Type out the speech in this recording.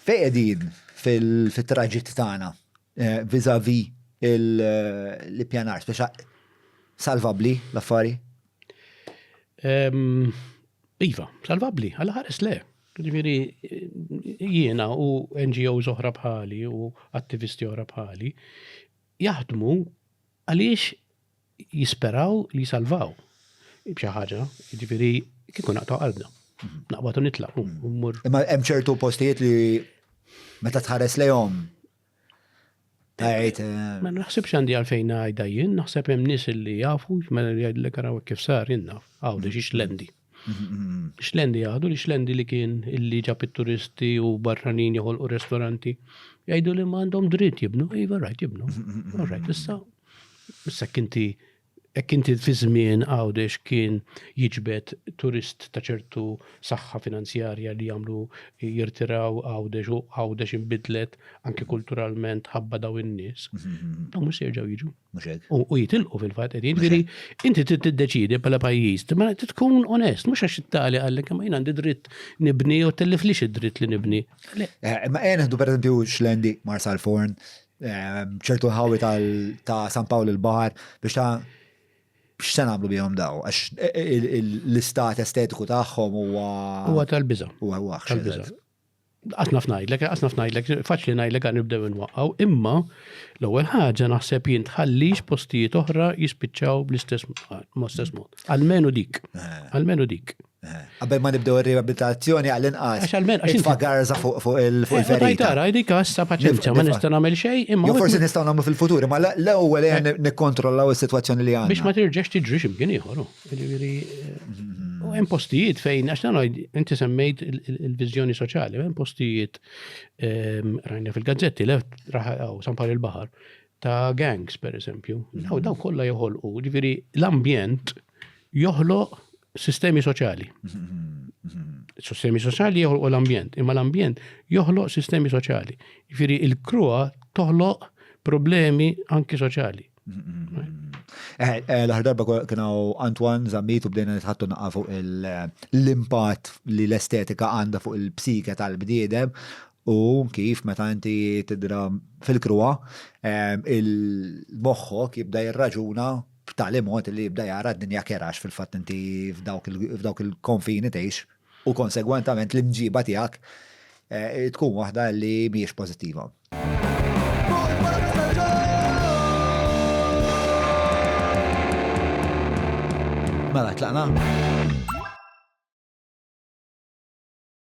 Fejn qegħdin fit-traġitt tagħna vis-à-vis l-ippjanar? Speċa salvabbli l-affari? Iva, salvabbli, għala ħares le. Ġifieri jiena u NGOs oħra bħali u attivisti oħra bħali jaħdmu għaliex jisperaw li jisalvaw b'xi ħaġa, jiġifieri kieku naqtgħu qalbna. Naqbad u nitlaq u mmur. Imma hemm ċertu postijiet li meta tħares lejhom Għajt. Eh, ma naħsibx għandi għalfejn għajda jien, naħseb hemm nis li jafu, mela li għajdlek għaraw kif sar jinnaf, għawdex ix lendi. Xlendi jgħadu li xlendi li kien illi ġab it-turisti u barranin joħolqu restoranti. Jgħidu li ma għandhom dritt jibnu, iva rajt jibnu. Rajt issa. Issa kinti hekk inti fi żmien għawdex kien jiġbed turist ta' ċertu saħħa finanzjarja li jagħmlu jirtiraw għawdex u għawdex inbidlet anke kulturalment ħabba daw in-nies. Dawn mhux se jerġgħu jiġu. Mhux hekk? U jitilqu fil-fatt qed jiġri inti trid tiddeċiedi bħala pajjiż, ma trid tkun onest, mhux għax it-tali għallek imma jien għandi dritt nibni jew telliflix id-dritt li nibni. Eh, ma qed neħdu pereżempju xlendi Marsal Forn, eh, ċertu ħawi ta' San Pawl il-Baħar biex ta' x'se nagħmlu bihom daw, għax e, e, l-istat estetiku tagħhom huwa. Huwa tal-biża. Huwa tal-biża. Qatt naf ngħidlek, qatt naf ngħidlek, faċli ngħidlek għan nibdew nwaqqaw, imma l-ewwel ħaġa naħseb jien tħallix postijiet oħra jispiċċaw bl-istess ma' stess mod. Almenu dik. Eh. Almenu dik. Eh. Qabel ma nibdew ir-riabilitazzjoni għal inqas. Għax almenu għax infa garza fuq fuq il-ferita. Eh, Tara, dik għassa paċenzja ma nista' nagħmel xejn imma. Forsi nistgħu nagħmlu fil-futur, imma l-ewwel nikkontrollaw is-sitwazzjoni li għandna. Biex ma tirġax tiġri x'imkien ieħor. Oh. Ġifieri, u hemm postijiet fejn, għax nagħmel, inti semmejt il-viżjoni soċjali, hemm postijiet ehm, rajna fil-gazzetti, left raħaw sampar il-baħar, ta' gangs, per eżempju. Daw daw kollha joħolqu, ġifieri l-ambjent joħloq sistemi soċjali. Sistemi soċjali joħloq l-ambjent, imma l-ambjent joħloq sistemi soċjali. Ġifieri il-krua toħloq problemi anki soċjali. Eh, eh, l-aħħar darba kienu Antoine Zammit u bdejna nitħattu naqqa fuq l-impatt li l-estetika għandha fuq il-psike tal-bniedem u kif meta inti tidra fil-kruwa eh, il-moħħok jibda jirraġuna b'tali mod li jibda jara d-dinja kerax fil-fatt inti f'dawk il-konfini tgħix u konsegwentament l-imġiba tiegħek tkun waħda li mhijiex pożittiva. Mela, tlaqna?